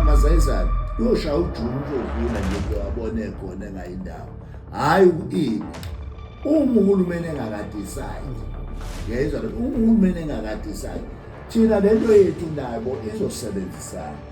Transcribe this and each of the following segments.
masayizane yosha ujuni uzodlula nje bewabone khona engayi ndawo hhayi uini uma uhulumeni engakadisayi ngiyayizwa uma uhulumeni engakadisayi thina lento yethu nabo izosebenzisana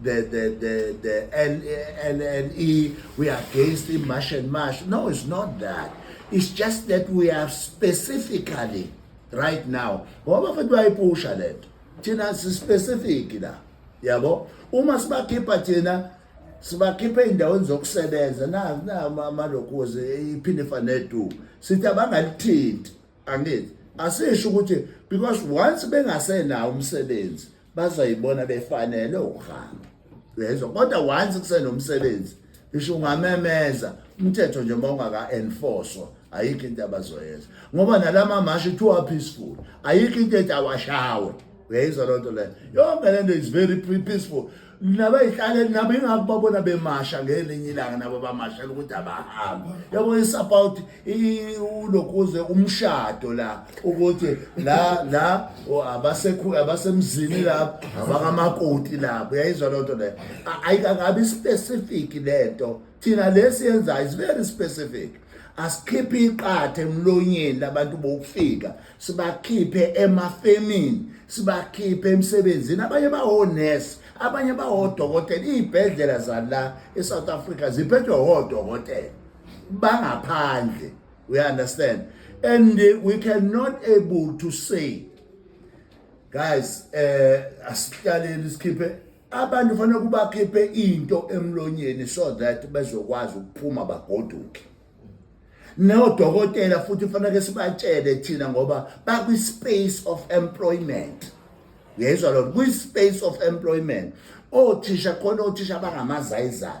the, the, the, the LLE, we are against the march and march. No, it's not that. It's just that we are specifically right now. Ngoba futhi bayipusha lento. Thina si specific la. Yabo? Uma sibakhipha thina sibakhiphe indaweni zokusebenza na na amalokuzi iphinde fanedu. Sithi abangalithinti. Angithi asisho ukuthi because once bengasenawo umsebenzi bazoyibona befanele ukuhamba uyezwa kodwa once kusenomsebenzi ngisho ungamemeza umthetho nje uma ungaka-enforcwa ayikho into abazoyenza ngoba nalama mashi kuthiwa peaceful ayikho into ethi awashawe uyayizwa loo nto leyo yonke le nto is very peaceful nabayihlaleli nabo ingakho babona bemasha ngelinye ilanga nabo bamashela ukuthi abahamba yabo isapawuthi I- ulokuze umshado la ukuthi la la o- abasekhu abasemzini lapho abakamakoti lapho uyayizwa loo nto leyo A- ayikakabi specific le nto thina lesiyenzayo is very specific asikhiphe iqathe emlonyeni labantu bokufika sibakhiphe emafemini sibakhiphe emsebenzini abanye bawonesi abanye bawodokotela iy'bhedlela zala e-south africa ziphethwe wodokotela bangaphandle we understand and we cannot able to say guys eh asihlaleni sikhiphe abantu kufanele kubakhiphe into emlonyeni so that bezokwazi ukuphuma bagoduke nodokotela futhi kufanele sibatshele thina ngoba bakwi space of employment uyayizwa lona kwi space of employment othisha khona othisha bangamazayizayo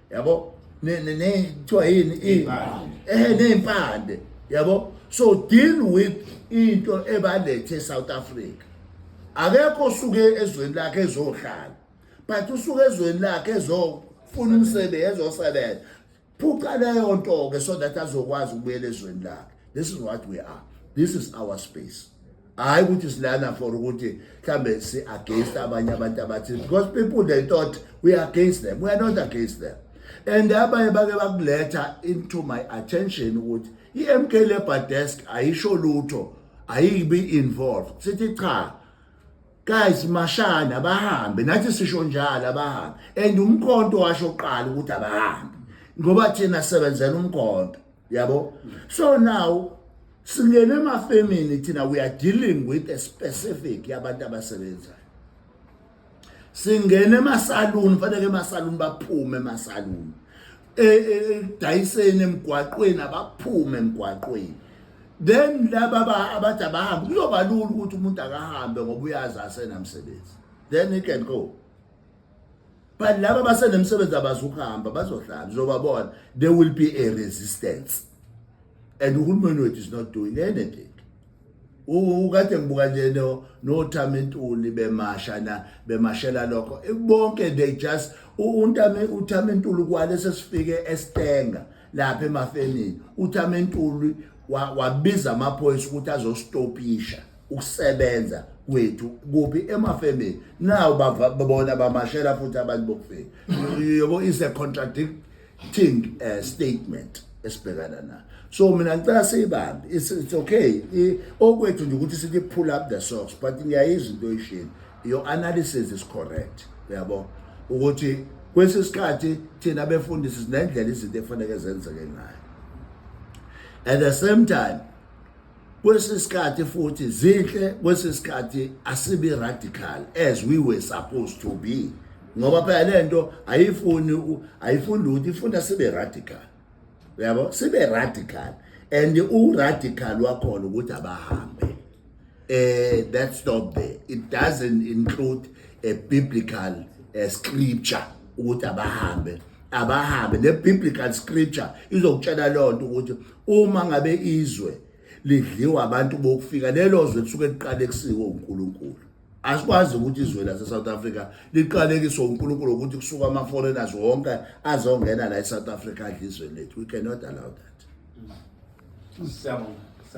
yabo kuthiwa yini ehe ney'mpande yabo so deal with into ebalethe e-south africa akekho osuke ezweni lakhe ezohlala but usuke ezweni lakhe ezofuna umsebenzi ezosebenza phuca leyo nto-ke so that azokwazi ukubuyela ezweni lakhe this is what we are this is our space hayi ukuthi silana for ukuthi mhlambe si against abanye abantu abathi because people they thought we are against them we are not against them and abanye bake bakuletha into my attention ukuthi i-MK Labour Desk ayisho lutho ayibi involved sithi cha guys mashana abahambe nathi sisho njalo abahambe and umkhonto washo qala ukuthi abahambe ngoba thina sebenzela umkhonto yabo so now singene emafemini thina we are dealing with a specific yabantu abasebenzayo singene emasaluni kufanele emasaluni baphume emasaluni e, e, edayiseni emgwaqweni abaphume emgwaqweni then laba abathi abahambe kuyoba lula ukuthi umuntu akahambe ngoba uyazi asenamsebenzi then he can go but laba basenemsebenzi abazukuhamba bazohlala uzobabona there will be a resistance and uhulumeni wethu is not doing anything ukade ngibuka nje nothama intuli bemasha na bemashela lokho bonke they just untame uthama intuli kwale sesifike estenga lapha emafenini uthama intuli wabiza amaphoyisa ukuthi azostopisha ukusebenza kwethu kuphi emafemini nawo babona bamashela futhi abantu bokufika yebo is a contradicting uh, statement esibhekana nayo so mina ngicela siyibambe it's, it's okay okwethu nje ukuthi sithi pull up the socks but ngiyayizwa into oyishini your analysis is correct uyabo ukuthi kwesisikhathi thina befundisi sinendlela izinto efanele zenzeke ngayo at the same time Kwesinye isikhathi futhi zinhle, kwesinye isikhathi asibi radical as we were supposed to be ngoba phela le nto ayifuni ayifuni lutho ifunda sibe radical uyabo sibe radical and u-radical wakhona ukuthi abahambe eh that stop there it doesn't include a biblical a eh, scripture ukuthi abahambe abahambe ne biblical scripture izokutshela lonto ukuthi uma ngabe izwe lidliwa abantu bokufika lelo zwe kusuke liqale kusiko uNkulunkulu asikwazi ukuthi izwe lase South Africa liqalekiswe uNkulunkulu ukuthi kusuka ama foreigners wonke azongena la eSouth Africa adla izwe lethu we cannot allow that mm. Siyabonga.